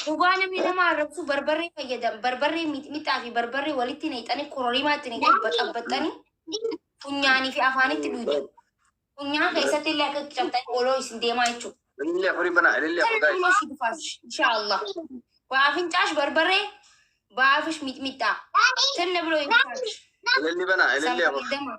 Cubaa namni nama arrabsu barbarree fayyadam barbarree mixmixaa fi barbarree walitti naqxanii kororimaa itti naqxanii baxabbaxxanii funyaanii fi afaanitti dhuyxu. Funyaan keessatti illee akka cabxanii oloo isin deemaa jechuudha. Ilillee afurii banaa, ilillee afur gaa'e. Ilillee si dufaas, inshaallah. Baafincaas barbarree, baafish mixmixaa. Tanna biroo hin faarsh. Ililli banaa, ilillee afur. Sanfalidama.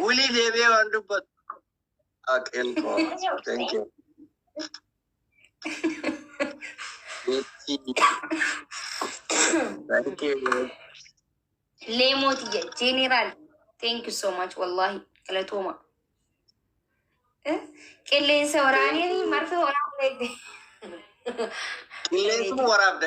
Wulii deebi'ee waan dubbatu. Aqeen koo. Thank you. Thank you. Leemooti jedhe jeeneraal. Thank you so much wallahi galatooma. Eh, Qilleensa waraanee marfee waraanee. Qilleensuma waraabda.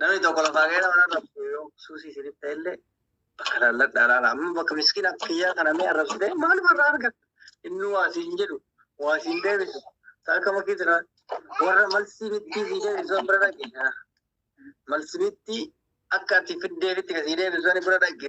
Namni tokko lafaa ka'ee nama irra bu'u yoo suusii isiniif ta'e illee bakka laalladhaa laala. Amma bakka miskiina kiyyaa kana mee arrabsitee maaluma irraa argatta? Inni waa siin jedhu, waa siin deebisu. Isaa akka makkii jira. Warra malsii mittii sii deebisu an bira dhaqe. Malsi mittii akka ati fiddeefitti ka sii deebisu ani bira dhaqe.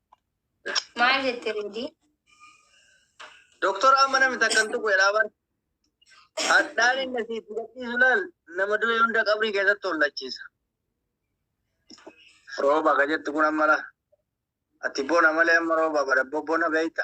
Maal jette Reedii? Doktor amma namni takkan tuqu jedhaa bar. Hadhaan inni asii itti gadhiisu laal nama du'e hunda qabrii keessatti hollachiisa. Rooba ka jettu kun amma laa. Ati bona malee amma rooba bara bona beekta.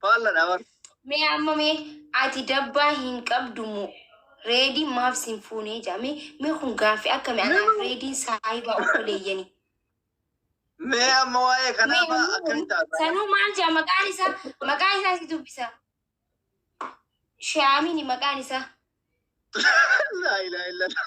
Faalladha bar. Mee amma mee ati dabbaa hin qabdu moo reedii maaf sin fuunee jaa mee mee kun gaaffi akkami anaaf reediin saahibaa obboleeyyani Mee amma waa'ee mee kanaa fa'aa ammoo akkamitti taasisa? sanuu maal jaa maqaan isaa maqaa isaa si dubbisa shaamini maqaan isaa Laa ilaaha illallah.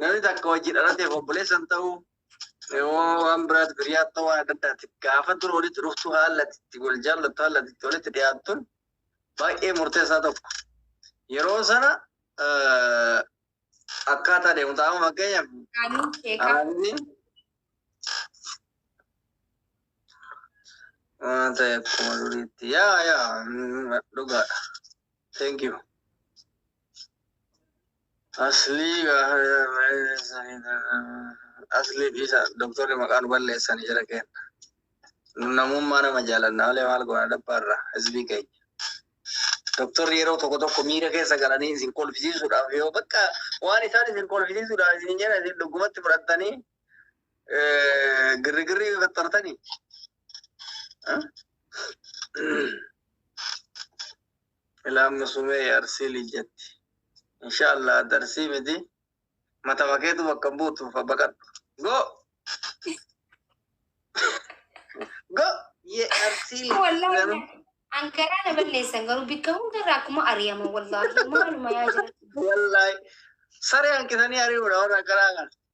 Namni takka wajji dhalateef obboleessan ta'uu yoo waan biraatti biriyaa ta'uu waan adda addaati. Gaafa dura walitti dhuftu haala itti wal jaallattu haala itti walitti dhiyaattun baay'ee murteessaa tokko. Yeroo sana akkaataa deemu ta'aa fakkeenyaaf. Hawaasni waan ta'e akkuma duriitti yaa yaa dhugaadha. Thank you. Aslii aslii dhiisa doktorri maqaa nu balleessani jira kenna. Nu namummaa nama jaalanna malee maal goona dabbaarra hizbii keenya. Doktorri yeroo tokko tokko miira keessa galanii isin kolfisiisuudhaaf yoo bakka waan isaan isin kolfisiisuudhaaf isin jedhan isin dhugumatti fudhattanii girrigirrii fattartanii. Ilaa musumee arsii lijetti. Insha Allah darsii miti matama keetu bakka hin buutu fa baqadhu. Go! Go! Ye arsii Wallaahi lijetti. na- an garaa na balleessan garuu bikka hundarraa akkuma ari'ama wallaahi maaluma yaa jira. Wallahi saree hanqisanii ari'uudha warra akkanaa kana.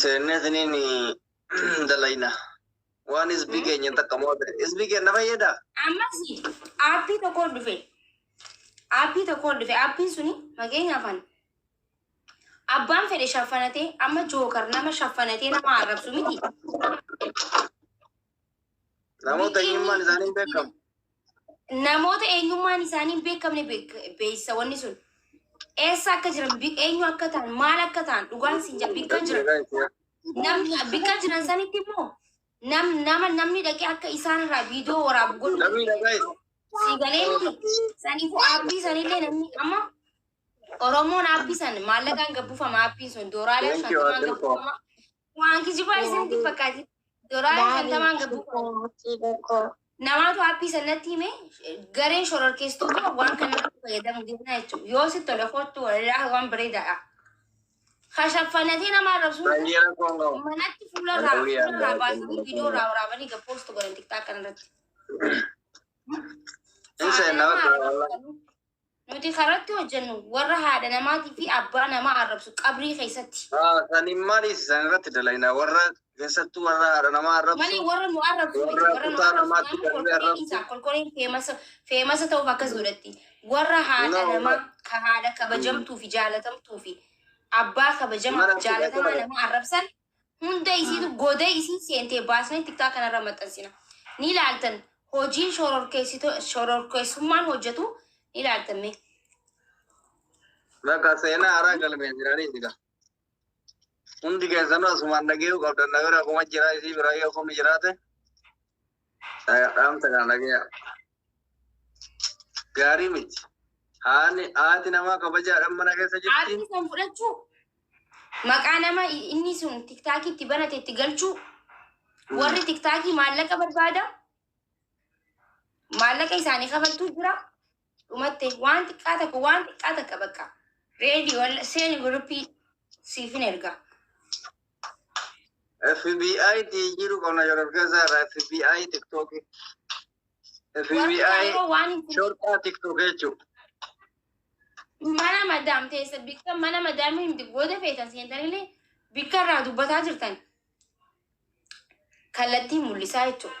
Seennee isiniin dalayna. Waan isbii keenya takka moo ta'e. Isbii keenya fayyada. Ammas aappii tokkoon dhufe. Aappii tokkoon dhufe. Aappiin suni fakkeenyaaf ani abbaan fedhe shaffanatee amma jookar nama shaffanatee nama arrabsu miti. Namoota eenyummaan isaanii hin beekamu. Namoota eenyummaan isaanii hin beekamne beek- beeksisa wanni sun. Eessa akka jiran, bi- eenyu akka ta'an, maal akka ta'an dhugaan siin jedha bikka jiran. Namni bikka jiran sanitti immoo nam, nama namni dhaqee akka isaan irraa viidiyoo waraabu godhu. Namni dhagaa'e. Sii galee miti. Saniifuu aappii sanillee namni amma Oromoon aappii san maallaqaan gabbufama aappiin sun dooraalee Thank you, shantamaan Adde Koo. gabbufama. Waan kijibaa isinitti hin fakkaatin. Doolaara shantamaan gabbuu namaatu haappii sanatti hime gareen shororkeessitoota waan kana irratti fayyadamu deemna jechuudha. Yoo si tole kottu walaa waan bareedaadha. Kashaffanatee nama arrabsu Bayyana koongoo. manatti fuula irraa Halluu yaa fuula irraa baay'ee baasanii nama viidiyoo irraa waraabanii gabboostu godhan tiktaa kana irratti. Hin seenna bakka walaa. Nuti karatti hojjennu warra haadha namaatii fi abbaa namaa arrabsu qabrii keessatti. Haa sani maliif isaan irratti dalayna warra keessattuu warra haadha namaa arrabsu. Mali warra nu arrabsu miti Warra warra nu kutaa arrabsu namaatti maaliif darbee kolkoleen arrabsu. isaa kolkoleen feemasa feemasa ta'uuf akkas godhatti warra haadha Naa namaa ulaa. ka haadha kabajamtuu fi jaalatamtuu fi abbaa kabajamaa Mana fi fudhee jaalatamaa ture. namaa arrabsan Hunda isiitu godee isiin seentee baasnee tiktaa kanarra maxxansina. Ni ilaaltan hojiin shororkeessito- shororkeessummaan hojjetu ni ilaaltan mee. Bakka seenaa haaraa galmee jiranii siga. Hundi keessanuu asumaan dhageeyuu qabdan na bira kuma jira isii bira yoo kumni jiraate. Dhaamsa kana dhagayaa. Gaarii miti. Haani haati namaa kabajaadhaan mana keessa jirti. Aartii san fudhachuu maqaa nama inni sun tiktaakii itti banate itti galchuu warri tiktaakii maallaqa barbaada maallaqa isaanii kafaltuu jira dhumatte waan xiqqaa takka waan xiqqaa takka bakka reedi walla seeni guruppii siifin erga FBI ti jiru qonna yeroo gaza irraa FBI TikTok warri FBI kaanoo waan hin shortaa TikTok jechuudha. mana madaam teessa bikka mana madaam himti booda feetan seentanillee bikka irraa dubbataa jirtan kallattii mul'isaa jechuudha.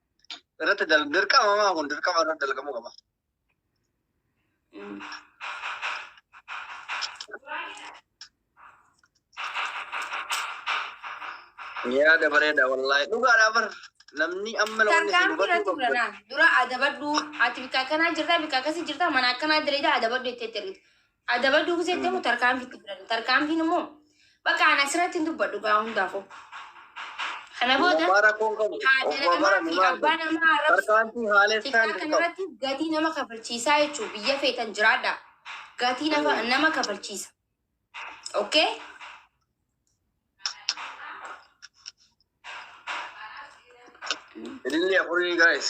irratti dal- dirqama maa kun dirqama irratti dalgamuu qaba. Yaada bareeda wallaahi dhugaadha bar namni amma na wanni Tarkaanfii irratti hubachuu qabdu. fudhanaa. Dura adabadhu. Ati bika akkanaa jirta, bika akkasii jirta, mana akkanaa dalagaa adabadhu jettee jirti. Adaba duuksee itti immoo tarkaanfii itti fudhatan. Tarkaanfiin immoo bakka ani asirratti hin dubbadhu gaa hundaafuu. Kana booda Dhugumaa rakkoon qabu. haadha Obbo namaa Abaran fi maal abbaa godhu? namaa arrabsu. Tarkaanfii haalessaan Tikkaa hin qabu. kanarratti gatii nama kafalchiisaa jechuun biyya feetan jiraadha. Gatii nama, Mm. nama kafalchiisa. Okay? Ilillee afurii guys.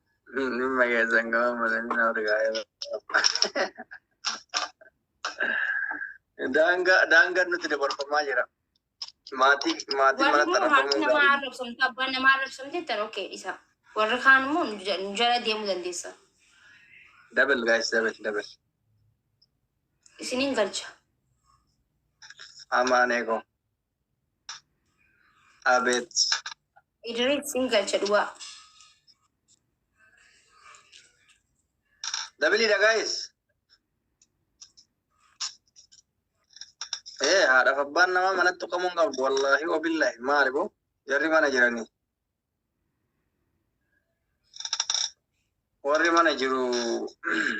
Dhimma keessan gama malanii na urgaa'ee Daangaa daangaan nuti dabarfamaa jira. Maatii maatii Warri mana immoo haati xarafamuu namaa gaarii. arrabsamte abbaan namaa arrabsamte jettan okkee dhisa. Warri kaan immoo nu ja- nu jala deemuu dandeessa. Dabal gaayis dabal dabal. Isiniin galcha. Amaanee koo. Abeet. Idris sin galcha dhugaa. Dabili da guys. Eh, haadhaaf abbaan namaa manatti qabuun qabdu wallaahi wabillahi maali boo jarri mana jiranii. warri mana jiru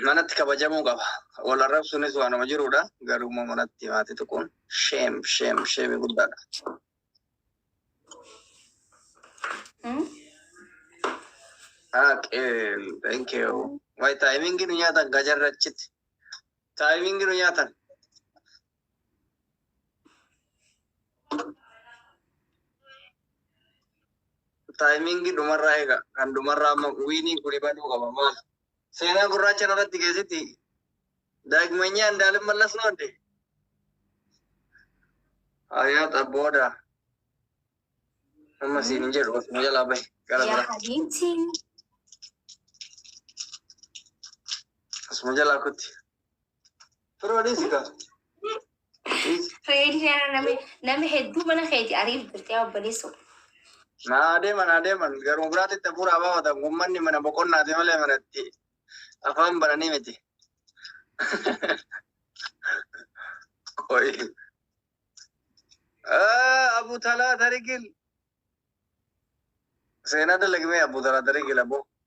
manatti kabajamuu qaba. Wal arrabsuunis waanuma jirudha. Garuu immoo manatti maatii tuquun sheem sheem sheemii guddaadha. Hmm? Haaqee thank you. Wayi taayimingi nu nyaatan gajarrachitti. Taayimingi nu nyaatan. Taayimingi dhumarraa eega. Kan dhumarraa amma wiinii kuni baduu qaba maal. Seenaa gurraacha irratti keessatti daagmanyaa indaalin mallas noodde. Ayaa xabbooda. Amma siin hin jedhu osuma jalaa bahe gara yaa bira. habiibti Osuma jalaa kutti. Firoo dhiisi gaa. Dhiisi. Fireedii kana nama nama hedduu mana keeti ariif jirtee obboleessoo. Naa adeeman adeeman garuu biraatti itti hafuuraa baafatan uummanni mana boqonnaati malee manatti afaan bananii miti. Qoyi. Ah, Abu Talaa Tarigil. Seenaa dalagmee Abu Talaa Tarigil aboo.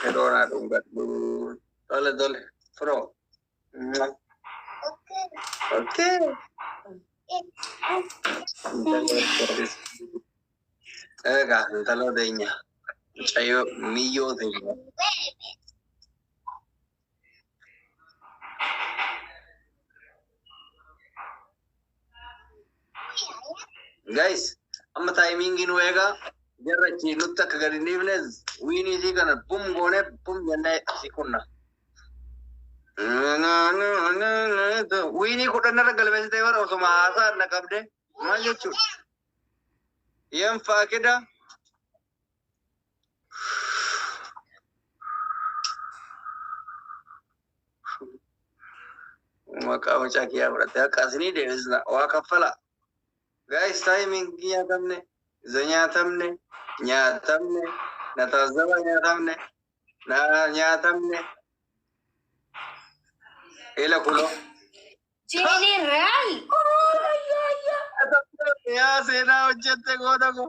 Kedoonaa dhungadhu. Tole tole. Firoo. Okay. Egaa intaloo teenya. Mucayyoo miyyoo teenya. Guys, amma taayimiingii nu eegaa jarra achi nutti akka gadi hin dhiifne wiinii isii kana bum goonee bum jennee si kunna. Wiinii kudhan irra galmeessitee bara osuma haasaa na qabde maal jechuudha? Yeen faakida Maqaa mucaa kiyyaa fudhattee akka asinii deebisna. Waa kaffala. Gaayis taayimiingii nyaatamne, iza nyaatamne, nyaatamne, na taazaba nyaatamne, na nyaatamne. Eela kuloo. Jeeleen Real. Yaa seenaa hojjette goota koo.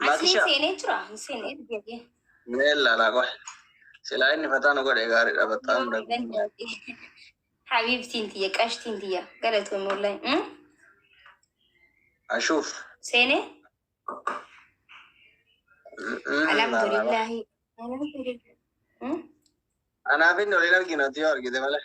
Asliin Maakisha. seenee jira hin seenee deebi'ee. Mee ilaalaa qoy. Silaa inni fataa nu godhe gaariidha battaa hunda. Habiibtiin tiyya qashtiin tiyya galatoomii wallahi. Mm? Ashuuf. Seenee alhamdulillahi. Alhamdulillahi. Mm? Anaaf inni waliin arginu yoo argite malee.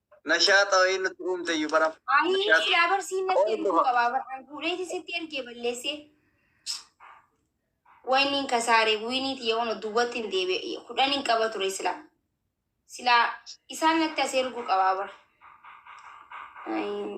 Nashaaxa wayii nutti uumte iyyuu bara. Ayii yaa barsiin natti Qooduma. erguu qabaa baraan guureeti sitti ergee balleessee. Wayni hin kasaare wiiniiti yoo nu duwwatti hin deebi'e kudhan hin qaba ture silaa. Silaa isaan natti as erguu qabaa bara. Ayii.